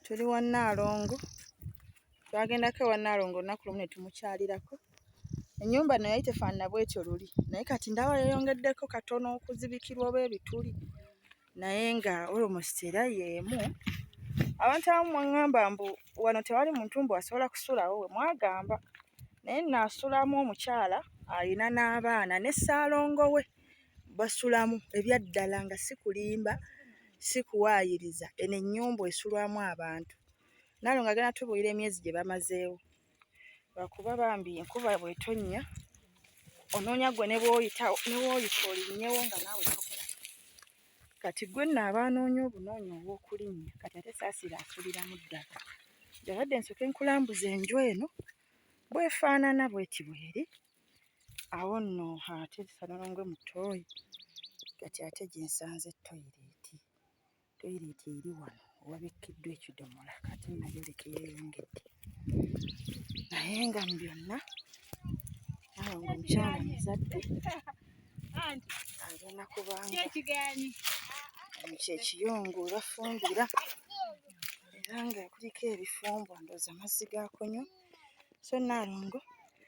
tuli wa Nnaalongo twagendako ewa Nnaalongo olunaku lumu ne tumukyalirako ennyumba no yali tefaanana bwetyo luli naye kati ndaba yeyongeddeko katono okuzibikirwa oba ebituli naye nga olmost era yeemu abantu abamu mwaŋŋamba mbu wano tewali muntu mbu asobola kusulawo we mwagamba naye naasulamu omukyala alina n'abaana ne ssaalongo we basulamu ebyaddala nga si kulimba si kuwaayiriza eno ennyumba esulwamu abantu naawe nga genda tubuulira emyezi gye bamazeewo lwakuba bambi enkuba bwetonnya onoonya gwe ne bwoyita ne bwoyita olinnyewo nga naawe tokola kati gwe nno aba anoonya obunoonya obw'okulinnya kati ate saasira asuliramu ddala yabadde nsooke nkulambuza enju eno bwefaanana bweti bweri awo nno ate Ssalongo mu ttooyi kati ate gye nsanze toyireeti. Toyireeti eri wano wabikkiddwa ekidomola ate nayo leka eyeeyongedde naye nga mu byonna awo ng'omukyala muzadde agenda kubanga kyekiyungu bafumbira era nga kuliko ebifumbo ndowooza mazzi ga kunywa so Nnaalongo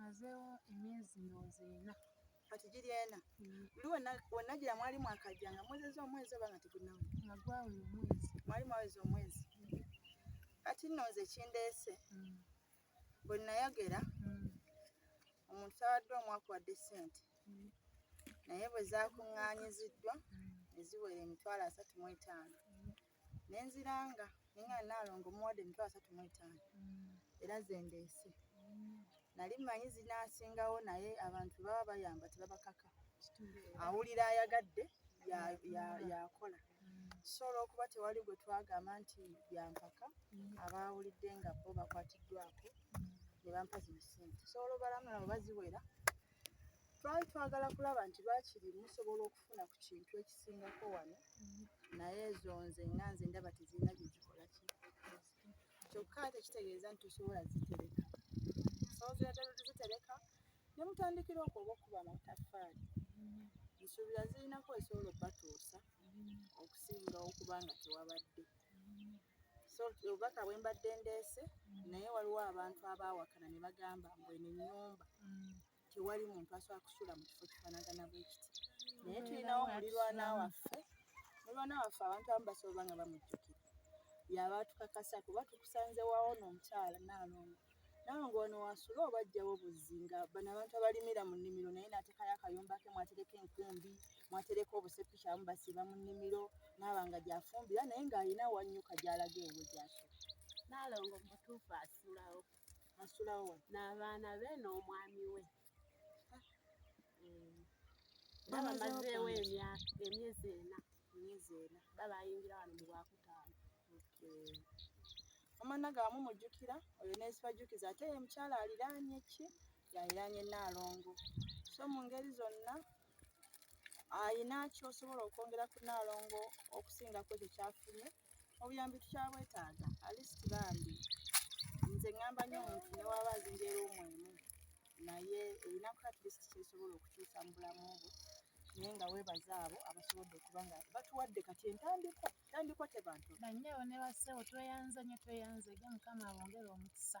mazeewo emyezi ndowooza ena kati giri ena mm. luli wenagira mwali mwakajja nga mwezeza omwezi oba nga tegunawe nagwawula omwezi mwali mwaweza omwezi mm. kati nno nze kindeese mm. bwe nayogera omuntu tawadde omwaka wadde sente naye bwe zakuŋŋaanyiziddwa ne ziwera emitwalo asatu mu etaano ne nziranga ne nga Nnaalongo mmuwadde emitwalo asatu mu etaano era ze ndeese. Nali mmanyi zinaasingawo naye abantu bwe baba bayamba tebabakaka. Awulira ayagadde y'akola. So olw'okuba tewali gwe twagamba nti bya mpaka, abaawulidde nga bo bakwatiddwako ne bampa zino ssente. So olubalama lwabo baziwera Twali twagala kulaba nti bakiri musobola okufuna ku kintu ekisingako wano naye ezo nze nga nze ndaba tezirina gye zikola ki kyokka ate kitegeeza nti tosobola zitereka osobola zitereka ne mutandikira okwo oba okuba amataffaali nsuubira zirinako esobola okubatuusa okusinga okuba nga tewabadde so obubaka bwe mbadde ndeese naye waliwo abantu abaawakana ne bagamba mbwene nnyumba tewali muntu asobola kusula mu kifo kifanagana bwe kiti naye tulinawo mulirwana waffe mulirwana waffe abantu abamu basobola oba nga bamujjukira yaba atukakasa kuba tukusanze wawo n'omukyala naalongo nawe ng'ono wasula oba ajjawo buzzi nga bano abantu abalimira mu nnimiro naye naatekayo akayumba ke mwatereka enkumbi mwatereka obusepiki abamu basiiba mu nnimiro naaba nga gyafumbira naye ng'alina wanyuka gyalaga ewe gyasula naalongo mutuufu asulawo n'abaana be n'omwami we hmm. babamazeewo emyezi ena emyezi ena babayingira wano mu lwakutaano omwana gawamu mujjukira oyo nesibajjukiza ate ye mukyala aliraanye ki yaliraanye naalongo so mu ngeri zonna alina kyosobola okwongera ku naalongo okusinga ku ekyo kyafunye obuyambi tukyabwetaaga alisiti bambi nze ŋŋamba nyo omuntu newaba azinja eruumu emu naye erinaku atlisiti kyesobola okukyusa mu bulamu bwe naye nga webaza abo abasobodde okuba nga batuwadde kati entandikwa entandikwa tebantu banyabo ne bassebo tweyanze nyo tweyanze ge mukama abongere omukisa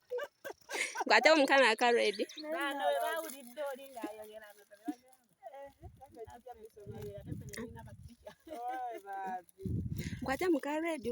Kwate omukana aka ready. Kwate muka ready.